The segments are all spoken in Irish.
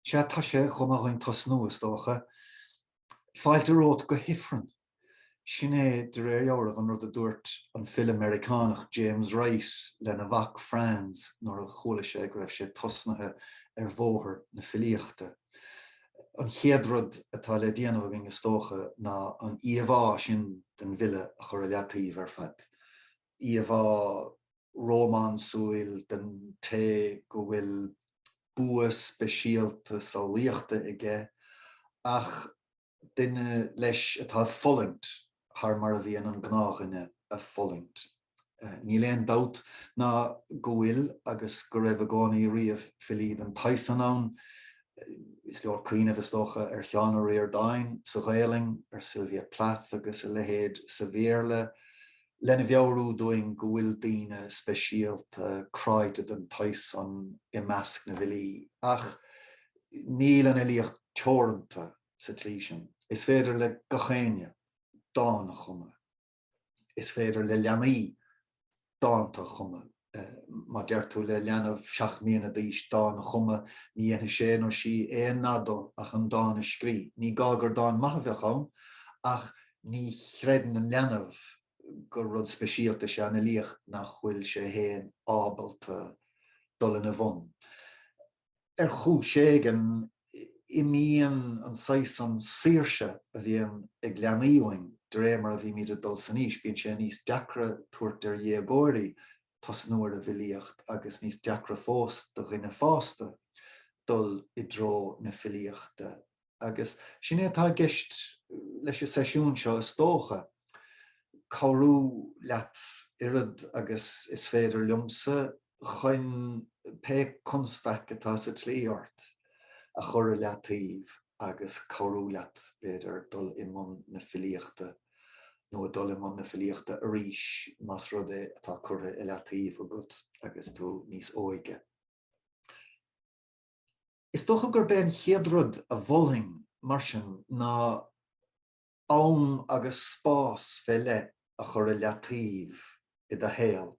Sea, tá sé chomh maith againn tosnú, is dócha. Fáilte romhat go hIfreann. Sin é, de réir dealraimh, an rud a dúirt an file Meiriceánach James Wright lena mhac Franz nuair a chuala sé go raibh sé tosnaithe ar bhóthar na filíochta. An chéad rud atá le déanamh againn, is dócha, ná an íomhá sin den bhfile a chur i leataobh ar fad. íomhá rómánsúil den té go bhfuil bua speisialta samhlaíochta aige, ach duine, leis, atá ag fulaingt thar mar a bhíonn an gnáthdhuine ag fulaingt. Níl aon dabht ná go bhfuil agus go raibh i gcónaí riamh filí den tsaghas san ann. Is leor cuimhneamh, is dócha, ar Sheán Ó Ríordáin sa Ghaolainn, ar Sylvia Plath agus a leithéid sa Bhéarla, lena mheabhrú dúinn go bhfuil daoine speisialta cráite den tsaghas san i measc na bhfilí. Ach níl an fhilíocht teoranta sa tslí sin. Is féidir le gach éinne dán a chumadh. Is féidir le leanaí dánta a chumadh. Má deir tú le leanbh seacht mbliana d'aois dán a chumadh, ní dhéanfaidh sé nó sí aon nath de ach an dán a scrí. Ní gá gur dán maith a bheadh ann, ach ní chreideann an leanbh gur rud speisialta is ea an fhilíocht nach bhfuil sé féin ábalta dul ina bhun. Ar chúis éigin, imíonn an saghas san saoirse a bhíonn ag leanaí uainn de réir mar a bhímid ag dul san aois. Bíonn sé níos deacra tabhairt ar dhéagóirí tosnú ar an bhfilíocht agus níos deacra fós do dhuine fásta dul i dtreo na filíochta. Agus sin é atá i gceist leis an seisiún seo is dócha, cabhrú leat oiread agus is féidir liomsa chun pé constaic atá sa tslí ort a chur i leataobh agus cabhrú leat b'fhéidir dul i mbun na filíochta, nó a dhul i mbun na filíochta arís más rud é atá curtha i leataobh agat agus tú níos óige. Is dócha gurb é an chéad rud a mholfainn, mar sin, ná am agus spás fé leith a chur i leataobh i do shaol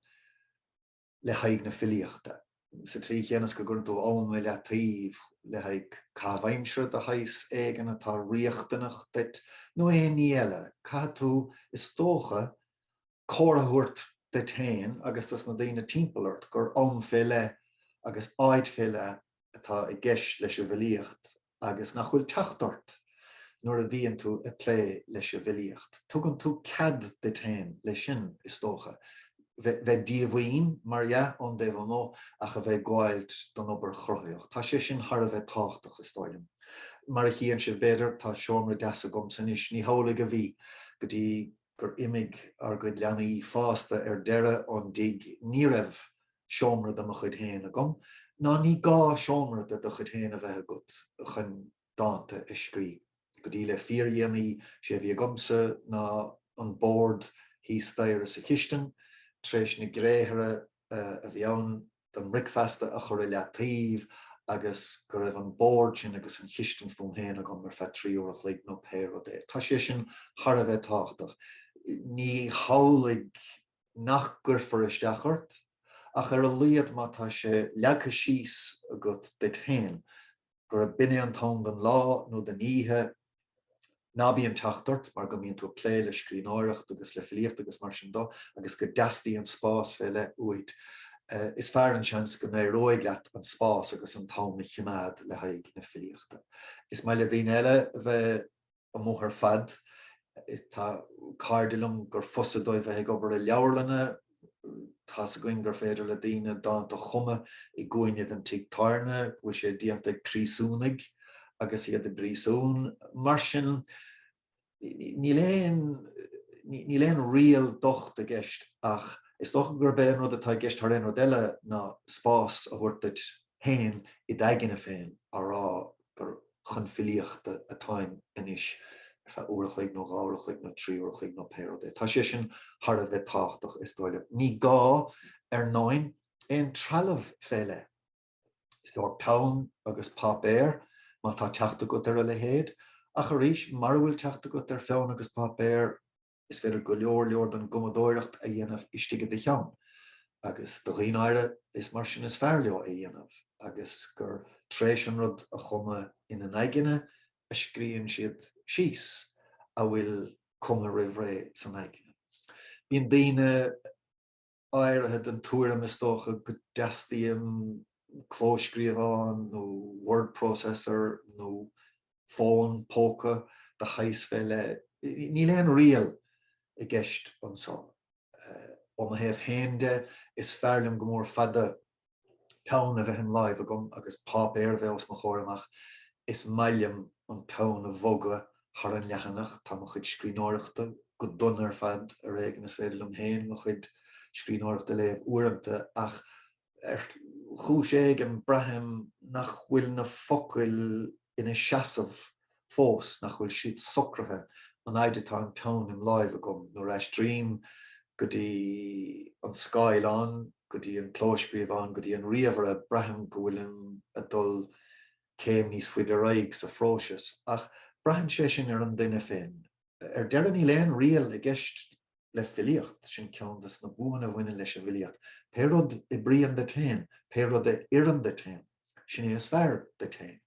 le haghaidh na filíochta, sa tslí chéanna is go gcuireann tú am i leataobh le haghaidh caitheamh aimsire de shaghas éigin atá riachtanach duit, nó aon ní eile. Caithfidh tú, is dócha, cóir a thabhairt duit féin agus dos na daoine timpeall ort gur am fé leith agus áit fé leith atá i gceist leis an bhfilíocht agus nach bhfuil teacht ort nuair a bhíonn tú ag plé leis an bhfilíocht. Tugann tú cead duit féin leis sin, is dócha, bheith díomhaoin, mar dhea, ón dtaobh amu' ach a bheith ag gabháilt don obair chruthaitheach. Tá sé sin thar a bheith tábhachtach, is dóigh liom. Mar a chíonn sibh, b'fhéidir, tá seomra deas agamsa anois, ní hamhlaidh a bhí go dtí gur imigh ár gcuid leanaí fásta ar deireadh ón dtigh, ní raibh seomra de mo chuid féin agam, ná ní gá seomra de do chuid féin a bheith agat chun dánta a scrí. Go dtí le fíordhéanaí, sé a bhí agamsa ná an bord thíos staighre sa chistin, tar éis na gréithre a bheadh ann don mbricfeasta a chur i leataobh agus go raibh an bord sin agus an chistin fúm féin agam ar feadh trí uair a chloig nó pé rud é. Tá sé sin thar a bheith tábhachtach. Ní hamhlaidh nach gcuirfear isteach ort ach ar a laghad má tá sé leagtha síos agat duit féin, Gurb in é an t-am don lá nó don oíche ná bíonn teacht ort mar go mbíonn tú ag plé le scríbhneoireacht agus le filíocht agus mar sin de agus go dteastaíonn spás fé leith uait. Is fearr an seans go n-éireoidh leat an spás agus an t-am a chimeád le haghaidh na filíochta. Is maith le daoine eile a bheith. amuigh ar fad. Tá cairde liom gur fusa dóibh bheith ag obair i leabharlanna, tá's againn gur féidir le daoine dánta a chumadh i gcúinne den tigh tábhairne, go bhfuil sé déanta ag príosúnaigh agus iad i bpríosún. Mar sin, níl aon, níl aon riail dhocht i gceist ach is dócha gurb é an rud atá i gceist thar aon rud eile ná spás a thabhairt duit fhéin i d'aigne féin á rá gur chun filíochta atáim anois ar feadh uair a chloig nó dhá uair a chloig nó trí uair a chloig nó pé rud é. Tá sé sin thar a bheith tábhachtach is dóigh liom. Ní gá, ar ndóin, aon trealamh fé leith. Is leor peann agus páipéar, má tá teacht agat ar a leithéid, ach arís, mara bhfuil teacht agat ar pheann agus páipéar, Is féidir go leor leor don gcumadóireacht a dhéanamh istigh i do cheann, agus do dhaoine áirithe is mar sin is fearr leo é a dhéanamh, agus gur tréis an rud a chumadh ina n-aigne a scríobhann siad síos a bhfuil cumtha roimh ré san aigne. Bíonn daoine. áirithe den tuairim, is dócha, go dteastaíonn clóscríobhán nó word processor nó fón póca de shaghas fé leith. Níl aon riail i gceist anso. Ó mo thaobh féin de, is fearr liom go mór fada peann a bheith im láimh agam agus páipéar a bheith os mo chomhair amach, is maith liom an peann a bhogadh thar an leathanach. Tá mo chuid scríbhneoireachta go dona ar fad, ar éigean is féidir liom féin mo chuid scríbhneoireachta a léamh uaireanta, ach ar chúis éigin braithim nach bhfuil na focail ina seasamh fós nach bhfuil siad socraithe an fhaid atá an peann im láimh agam nuair a aistrím go dtí an scáileán, go dtí an clóscríobhán, go dtí an ríomhaire, braithim go bhfuilim ag dul céim níos faide ar aghaidh sa phróiseas, ach braitheann sé sin ar an duine féin. Ar deireadh níl aon riail i gceist le filíocht, sin ceann de na buanna a bhaineann leis an bhfilíocht, pé rud a oibríonn duit féin, pé rud a oireann duit féin, sin é is fearr duit féin.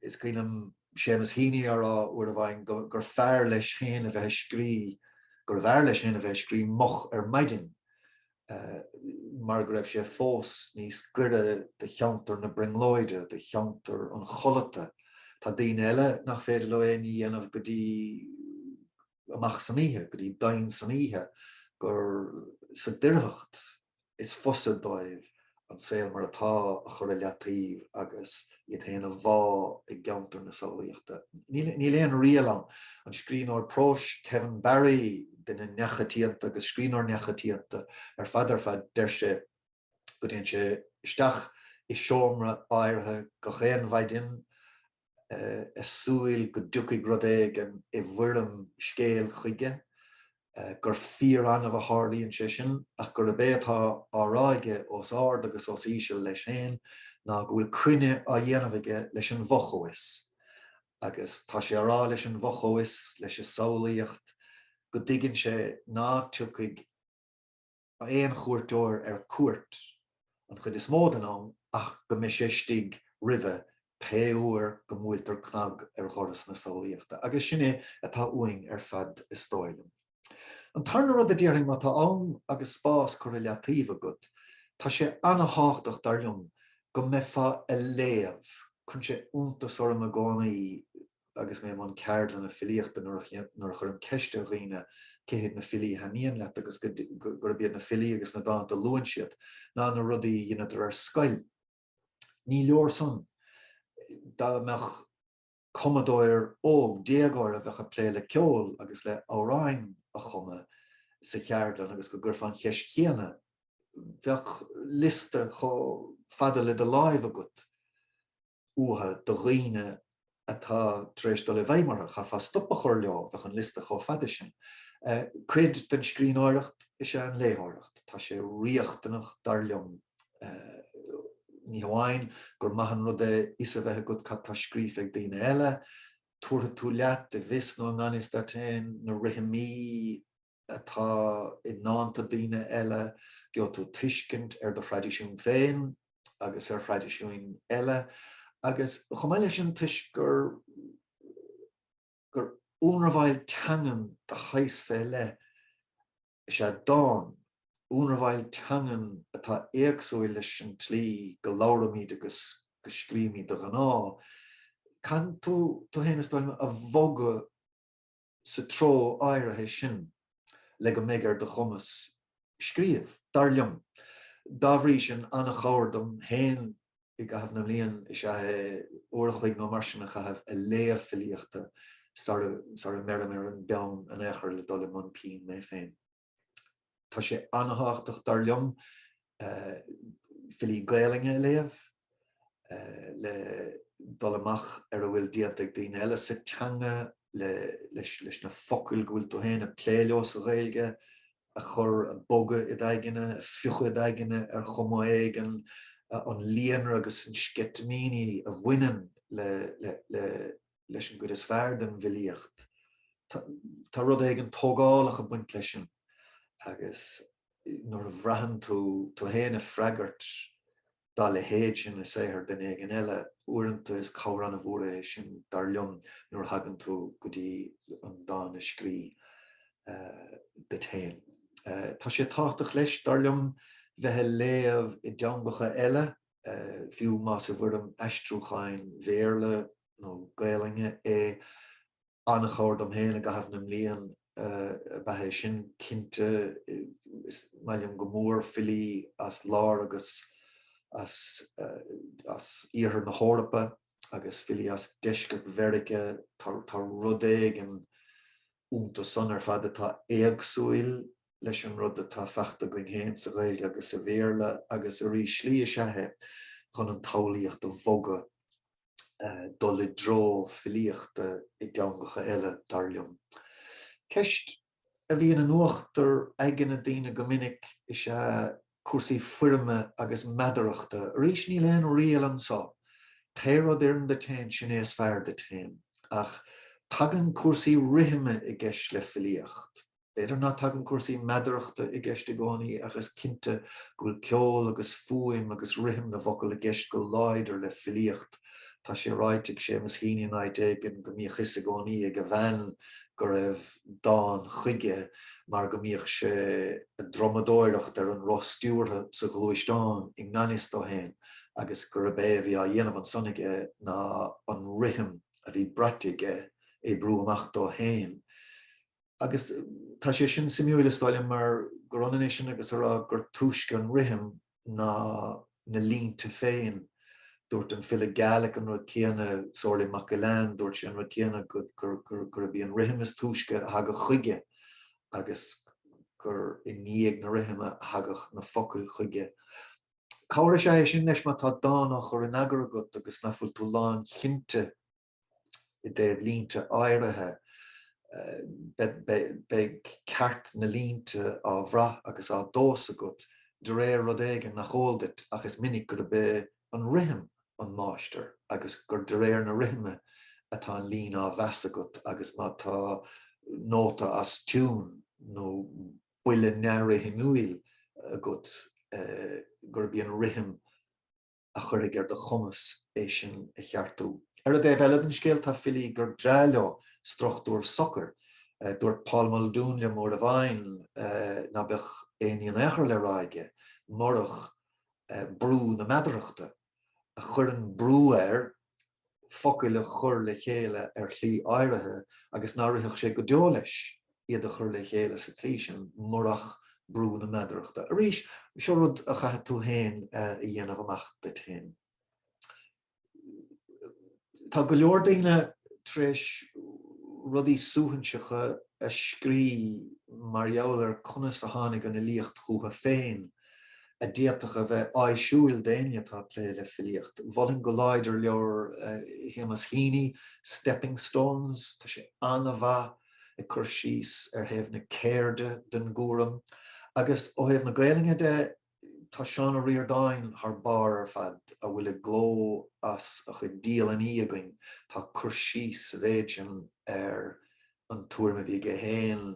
is cuimhin liom Seamus Heaney á rá uair amháin gur fearr leis féin a bheith ag scríobh gurbh fhearr leis féin a bheith ag scríobh moch ar maidin mar go raibh sé fós níos gaire do cheantar na brionglóide, do cheantar an chodlata. Tá daoine eile nach féidir leo aon ní a dhéanamh go dtí amach san oíche, go dtí domhain san oíche, gur sa doircheacht, is fusa dóibh an saol mar atá a chur i leataobh agus iad féin a bhá i gceantar na samhlaíochta. Níl aon riail ann. An scríbhneoir próis Kevin Barry, duine neamhchoitianta agus scríbhneoir neamhchoitianta ar fad ar fad, deir sé go dtéann sé isteach i seomra áirithe gach aon mhaidin i súil go dtiocfaidh rud éigin i bhfoirm scéil chuige, gur fíor-annamh a tharlaíonn sé sin, ach gurb é atá á rá aige os ard agus os íseal leis féin ná go bhfuil coinne á dhéanamh aige leis an bhfo-chomhfhios. Agus tá sé á rá leis an bhfo-chomhfhios, leis an samhlaíocht, go dtuigeann sé ná tiocfaidh, aon chuairteoir ar cuairt an chuid is mó den am ach go mbeidh sé istigh roimhe pé uair go mbuailtear cnag ar dhoras na samhlaíochta agus sin é atá uainn ar fad is dóigh liom. An tarna rud a déarfainn, má tá am agus spás curtha i leataobh agat, tá sé ana-thábhachtach dar liom go mbeifeá ag léamh, cuireann sé iontas orm i gcónaí, agus mé i mbun ceardlanna filíochta nuair a chuirim ceist ar dhaoine cé hiad na filí a thaitníonn leat agus gurb iad na filí agus na dánta a luann siad ná na rudaí a dheineadar ar scoil. Ní leor san. Dá mbeadh cumadóir óg, déagóir a bheadh ag plé le ceol agus le amhráin a chumadh sa cheardlann agus go gcuirfeá an cheist chéanna, bheadh liosta chomh fada le do láimh agat. uatha do dhaoine atá tar éis dul i bhfeidhm orthu. Chaithfeá stop a chur leo, bheadh an liosta chomh fada sin. Cuid den scríbhneoireacht is ea an léitheoireacht. Tá sé riachtanach, dar liom, ní hamháin gur maith an rud é fhios a bheith agat cad tá scríofa ag daoine eile, tabharfaidh tú leat, i bhfios nó i ngan fhios duit féin, na rithimí, atá i ndánta daoine eile, gheobhaidh tú tuiscint ar do thraidisiún féin agus ar thraidisiún eile agus chomh maith leis sin toisc gur gur ionramháil teangan de shaghas fé leith is ea dán, ionramháil teangan atá éagsúil leis an tslí go labhraímid agus go scríobhaimid de ghnáth. Caitheann tú tú féin, is dóigh liom, a bhogadh. sa treo áirithe sin le go mbeidh ar do chumas scríobh, dar liom. Dá bhrí sin, an-chabhair dom féin i gcaitheamh na mblian is ea uair a chloig nó mar sin a chaitheamh a' léamh filíochta sara sara mbeirim ar an bpeann in aon chor le dul i mbun pinn mé féin. Tá sé an-thábhachtach, dar liom, filí Gaelainne a léamh le dul amach ar a bhfuil déanta ag daoine eile sa teanga, le leis na focail go bhfuil tú féin ag plé leo sa Ghaeilge a chur, a bhogadh id aigne, a phriocadh id aigne ar chuma éigin, an líonra agus na sceitimíní a bhaineann le. leis an gcuid is fearr den bhfilíocht. Tá rud éigin tógálach ag baint leis sin agus nuair a bhraitheann tú tú fhéin ag freagairt dá leithéid sin i saothar duine éigin eile, uaireanta is cabhair an-mhór é sin dar liom nuair a thagann tú go dtí an dán a scríobh duit fhéin. Tá sé tábhachtach leis dar liom bheith ag léamh i dteangacha eile, fiú más i bhfoirm aistriúcháin Bhéarla nó Gaelainne é, an-chabhair dom féin i gcaitheamh na mblian ab ea é sin, cinnte, is maith liom go mór filí as Lár agus as as Oirthear na hEorpa agus filí as Deisceart Mheiriceá, tá rud éigin iontu san ar fad atá éagsúil leis an rud atá fachta againn féin sa Ghaeilge agus sa Bhéarla agus arís slí is ea é chun an tsamhlaíocht a bhogadh dul i dtreo filíochta i dteangacha eile, dar liom. Ceist a bhíonn in uachtar aigne daoine go minic is ea cúrsaí foirme agus meadarachta. Arís, níl aon riail anseo. Pé rud a oireann duit féin, sin é is fearr duit féin. Ach tagann cúrsaí rithime i gceist le filíocht. B'fhéidir ná tagann cúrsaí meadarachta i gceist i gcónaí ach is cinnte go bhfuil ceol agus fuaim agus rithim na bhfocal i gceist go láidir le filíocht. Tá sé ráite ag Seamus Heaney in áit éigin go mbíodh 'fhios i gcónaí ag a bhean go raibh dán chuige mar go mbíodh sé ag drumadóireacht ar an roth stiúrtha sa ghluaisteán i ngan fhios dó féin agus gurb é a bhí á dhéanamh ansan aige ná an rithim a bhí braite aige a oibriú amach dó féin. agus tá sé sin suimiúil is dóigh liom mar gur ionann é sin agus a rá gur túisce an rithim ná na línte féin. Dúirt an file Gaelach an rud céanna, Somhairle Mac Gill-Eain, dúirt sé an rud céanna, gurb í an rithim is túisce a thagadh chuige agus gur i ndiaidh na rithime a thagadh na focail chuige. Cabhair is ea é sin leis má tá dán á chur in eagar agat agus nach bhfuil tú lánchinnte i dtaobh línte áirithe, beidh ceart na línte á bhrath agus á dtomhas agat de réir rud éigin nach eol duit ach is minic gurb é an rithim an máistir agus gur de réir na rithime atá an líne á mheas agat agus má tá nóta as tiún nó buille neamhrithimiúil agat gurb í an rithim a chuirfidh ar do chumas é sin a cheartú. Ar an dtaobh eile den scéal, tá filí gur breá leo struchtúr socair. Dúirt Paul Muldoon liom uair amháin ná beadh aon ní in aon chor le rá aige murach brú na meadarachta, a chuireann brú air focail a chur le chéile ar shlí áirithe agus ná rithfeadh sé go deo leis iad a chur le chéile sa tslí sin murach brú na meadarachta. Arís, seo rud a chaithfidh tú féin a dhéanamh amach duit féin. Tá go leor daoine tar éis rudaí suaithinseacha a scrí mar gheall ar conas a tháinig an fhilíocht chucu féin. a d'fhéadfadh a bheith áisiúil d'éinne atá ag plé le filíocht. Mholfainn go láidir leabhar Shéamus Heaney, Stepping Stones, tá sé an-mhaith ag cur síos ar thaobh na ceirde den gcúram. Agus ó thaobh na Gaelainne de, tá Seán Ó Ríordáin thar barr ar fad, a bhfuil i gcló as a chuid dialannaí againn, tá cur síos sa mhéid sin ar an tuairim a bhí aige féin,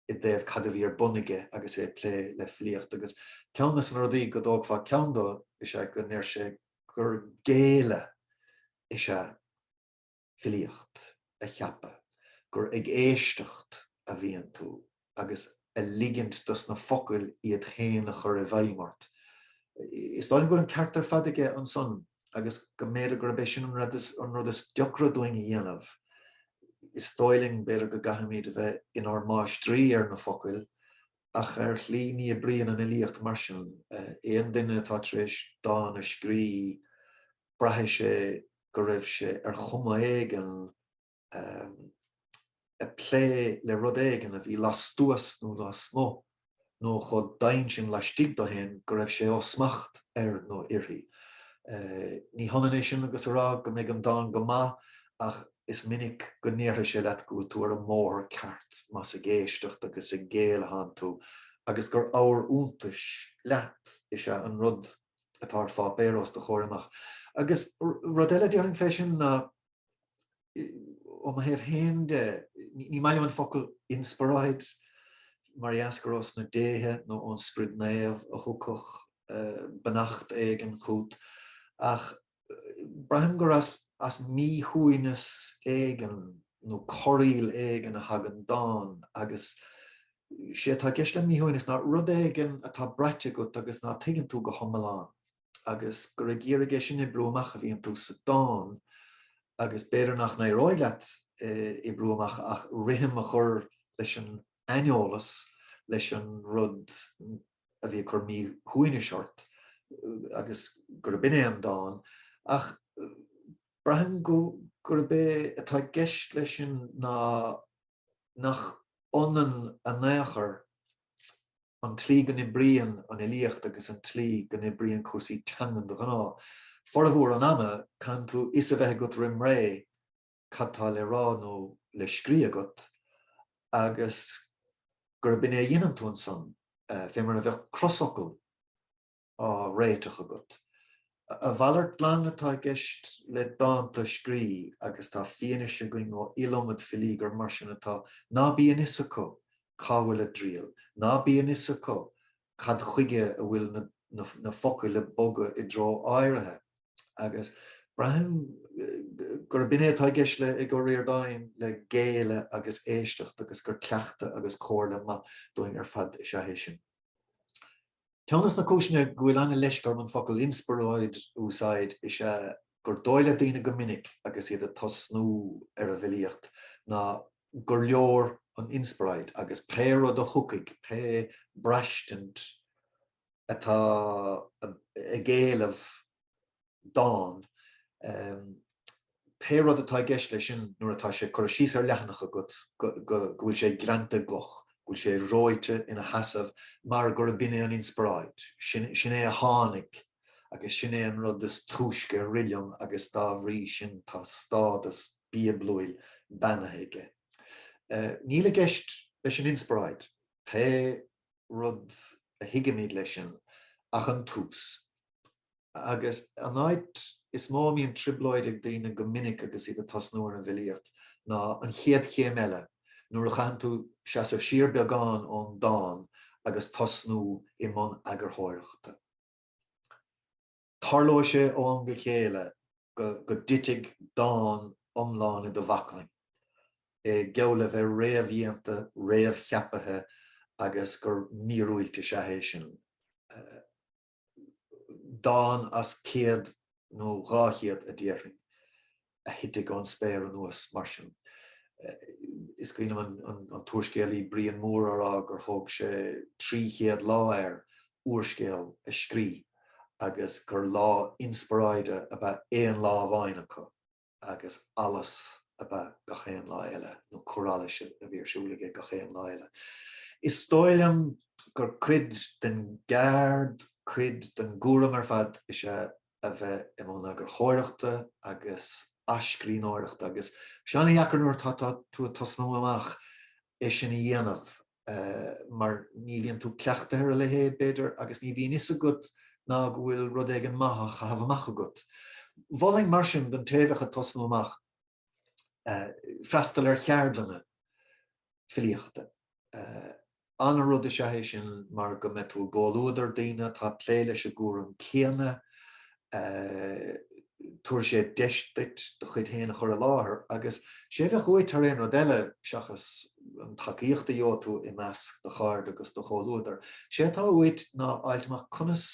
i dtaobh cad a bhí ar bun aige agus é ag plé le filíocht agus ceann des na rudaí go dtógfá ceann dó is ea go ndeir sé gur géilleadh is ea filíocht a cheapadh, gur ag éisteacht a bhíonn tú agus a ligint dos na focail iad féin a chur i bhfeidhm ort. Is dóigh liom go bhfuil an ceart ar fad aige ansan. agus go mb'fhéidir gurb é sin an rud is deacra dúinn a dhéanamh, is dóigh linn b'fhéidir go gcaithfimid a bheith inár máistrí ar na focail, ach ar shlí ní oibríonn an fhilíocht mar sin. Aon duine atá tar éis dán a scrí, braithfidh sé go raibh sé ar chuma éigin, ag plé le rud éigin a bhí lastuas nó lasmuigh nó chomh daingean laistigh dó féin go raibh sé ó smacht air nó uirthi. Ní hionann é sin agus a rá go mbeidh an dán go maith ach is minic go ndéarfaidh sé leat go bhfuil tú ar an mbóthar ceart más ag éisteacht agus ag géilleadh atánn tú agus gur abhar iontais leat is ea an rud atá ar pháipéar os do chomhair amach. Agus rud eile a déarfainn fé sin ná. ó mo thaobh féin de, ní maith liom an focal inspioráid mar is geall le gur ós na déithe nó ón Sprid Naomh a thiocfadh beannacht éigin chút ach braithim gur as míshuaimhneas éigin nó corraíl éigin a thagann dán agus is é atá i gceist le míshuaimhneas ná rud éigin atá braite agat agus ná tuigeann tú go hiomlán. agus gur ag iarraidh é sin a oibriú amach a bhíonn tú sa dán agus b'fhéidir nach n-éireoidh leat é a oibriú amach ach rithim a chur leis an aineolas, leis an rud a bhí ag cur míshuaimhnis ort agus gurb in é an dán. Ach braithim gurb é atá i gceist leis sin ná nach ionann in aon chor an tslí go n-oibríonn an fhilíocht agus an tslí go n-oibríonn cúrsaí teangan de ghnáth. Formhór an ama, caithfidh tú fhios a bheith agat roim ré cad tá le rá nó le scrí agat agus gurb in é a dheineann tú ansan, fé mar a bheadh crosfhocal. á réiteach agat. A mhalairt glan atá i gceist le dán a scrí agus tá fianaise againn ó iliomad filí gur mar sin atá, ná bíonn fhios acu cá bhfuil a dtriall, ná bíonn fhios acu cad chuige a bhfuil na focail ag bogadh i dtreo áirithe agus braithim gurb in é atá i gceist ag an Ríordánach le géilleadh agus éisteacht agus gur cleachtadh agus comhairle mhaith dúinn ar fad is ea é sin. Ceann de na cúiseanna go bhfuil an-leisce orm an focal 'inspioráid' a úsáid is ea gur dóigh le daoine go minic agus iad ag tosnú ar an bhfilíocht ná gur leor an inspioráid agus pé rud a thiocfaidh, pé braistint atá ag éileamh dán. Pé rud atá i gceist leis sin nuair atá sé curtha síos ar leathanach agat go bhfuil sé greanta i gcloch, go bhfuil sé reoite ina sheasamh mar gur b'in é an inspioráid, sin é a tháinig agus sin é an rud is túisce a rith liom agus dá bhrí sin tá stádas bíoblúil beannaithe aige. Níl i gceist leis an inspioráid, pé rud a thuigimid leis sin, ach an tús. Agus an áit is mó a mbíonn trioblóid ag daoine go minic agus iad ag tosnú ar an bhfilíocht ná an chéad chéim eile, nuair a chaitheann tú seasamh siar beagán ón dán agus tosnú i mbun eagarthóireachta. Tarlóidh sé ó am go chéile go dtitfidh dán iomlán i do bhaclainn, geall le bheith réamhdhéanta, réamhcheaptha agus gur míorúilt is ea é sin. dán as céad nó dhá chéad a déarfainn, a thitfidh ón spéir anuas mar sin. Is cuimhin liom an t-úrscéalaí Brian Moore á rá gur thóg sé trí chéad lá air úrscéal a scríobh agus gur lá inspioráide ab ea aon lá amháin acu. agus allas ab ea gach aon lá eile, nó cur allais a bhí ar siúl aige gach aon lá eile. Is dóigh liom gur cuid den gceard, cuid den gcúram ar fad is ea a bheith i mbun eagarthóireachta agus athscríbhneoireachta agus is ana-dheacair nuair atá tú ag tosnú amach é sin a dhéanamh. mar ní bhíonn tú cleachtaithe ar a leithéid, b'fhéidir, agus ní bhíonn fhios agat ná go bhfuil rud éigin maith á chaitheamh amach agat. Mholfainn mar sin don té a bheadh ag tosnú amach freastal ar cheardlanna filíochta. Ana-rud is ea é sin mar go mbeidh tú i gcomhluadar daoine atá ag plé leis an gcúram céanna tabharfaidh sé deis duit do chuid féin a chur i láthair agus sé a bheadh uait thar aon rud eile, seachas an tacaíocht a gheobhaidh tú i measc do chairde agus do chomhluadar, sé atá uait ná fháilt amach conas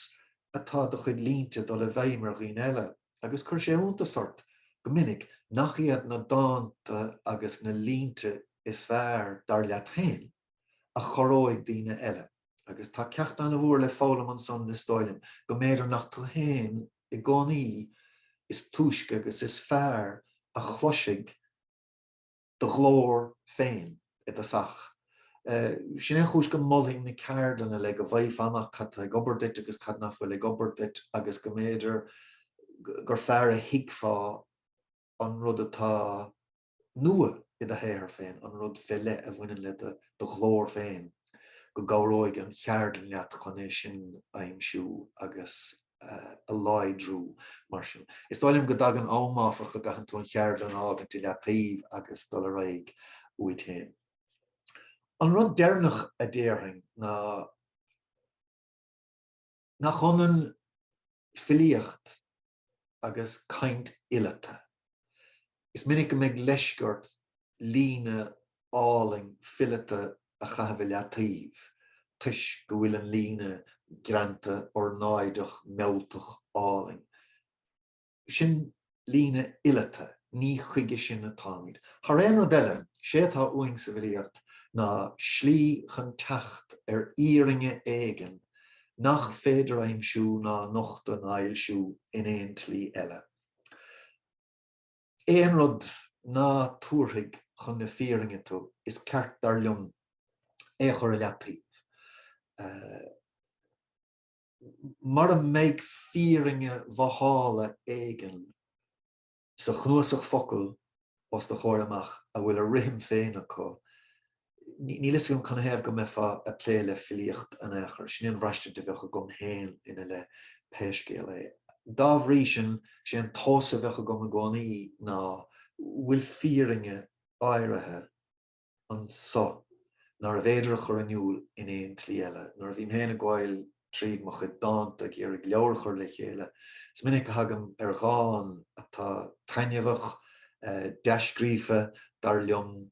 atá do chuid línte ag dul i bhfeidhm ar dhaoine eile agus cuirfidh sé iontas ort go minic nach iad na dánta agus na línte is fearr, dar leat féin, a chorróidh daoine eile. agus tá ceacht an-mhór le foghlaim ansan is dóigh liom, go mb'fhéidir nach tú féin i gcónaí is túisce agus is fearr a chloisfidh do ghlór féin i dtosach. Sin é an chúis go molfainn na ceardlanna le go bhfaighfeá amach cad tá ag obair duit agus cad nach bhfuil ag obair duit agus go mb'fhéidir gur fearr a thuigfeá an rud atá nua id shaothar féin, an rud fé leith a bhaineann le do ghlór féin, go gcabhróidh an cheardlann leat chun é sin a aimsiú agus a láidriú. Mar sin, is dóigh liom go dtagann am, áfach, a gcaitheann tú an cheardlann a fhágaint i leataobh agus dul ar aghaidh uait féin. An rud deireanach a déarfainn ná nach ionann filíocht agus caint fhileata. Is minic go mbeidh leisce ort líne álainn fileata a chaitheamh i leataobh toisc go bhfuil an líne greanta ornáideach mealltach álainn. Sin líne fhileata, ní chuige sin atáimid. Thar aon rud eile, sé atá uainn sa bhfilíocht ná slí chun teacht ar fhírinne éigin nach féidir aimsiú ná a nochtadh ná a fhoilsiú in aon tslí eile. Aon rud ná tabharfaidh chun na fírinne tú, is ceart dar liom é a chur i leataobh. Mara mbeidh fírinne mhothála éigin. sa chnuasach focal os do chomhair amach a bhfuil a rithim féin acu. Níl fhios agam canathaobh go mbeifeá ag plé le filíocht in aon chor, sin é an bhraistint a bheadh agam féin ina leith pé scéal é. Dá bhrí sin, sé an tomhas a bheadh agam i gcónaí ná, bhfuil fírinne áirithe, anso, nárbh fhéidir a chur in iúl in aon tslí eile. Nuair a bhím féin ag gabhail tríd mo chuid dánta ag iarraidh leabhar a chur le chéile, is minic a thagaim ar dhán atá taitneamhach, dea-scríofa, dar liom,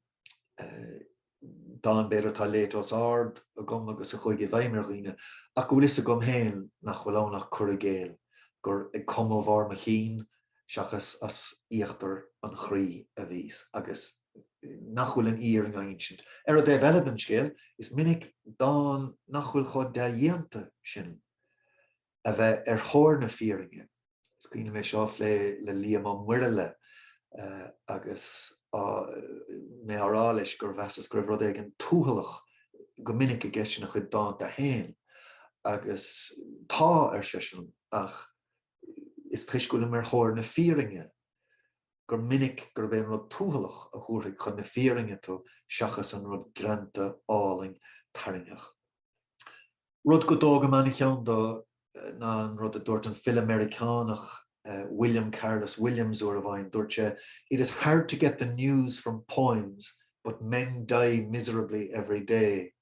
dán, b'fhéidir, atá léite os ard agam agus a chuaigh i bhfeidhm ar dhaoine, ach go bhfuil fhios agam féin nach bhfuil ann ach cur i gcéill, gur ag cumadh bharr mo chinn seachas as íochtar an chroí a bhíos, agus nach bhfuil an fhírinne á insint. Ar an dtaobh eile den scéal, is minic dán nach bhfuil chomh dea-dhéanta sin a bheith ar thóir na fírinne, is cuimhin liom é seo a phlé le Liam Ó Muirthile agus mé á rá leis gur mheasas go raibh rud éigin tuathalach go minic i gceist ina chuid dánta féin, agus tá, ar seisean, ach Is toisc go bhfuilim ar thóir na fírinne gur minic gurb é an rud tuathalach a thabharfaidh chun na fírinne tú seachas an rud greanta, álainn, tarraingeach. Rud go dtógaim an-cheann do ná an rud a dúirt an file Meiriceánach William Carlos Williams uair amháin. Dúirt sé, It is hard to get the news from poems but men die miserably every day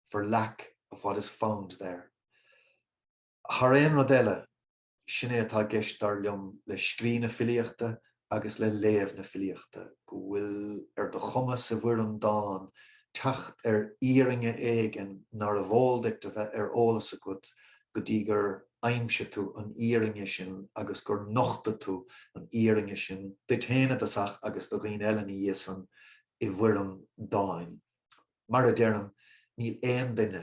for lack of what is found there. Thar aon rud eile, sin é atá i gceist dar liom le scríobh na filíochta agus le léamh na filíochta, go bhfuil ar do chumas i bhfoirm dáin teacht ar fhírinne éigin nárbh eol duit a bheith ar eolas agat go dtí gur aimsigh tú an fhírinne sin agus gur nochtaigh tú an fhírinne sin duit féin i dtosach agus do dhaoine eile ina dhiaidh san i bhfoirm dáin. Mar a deirim, níl aon duine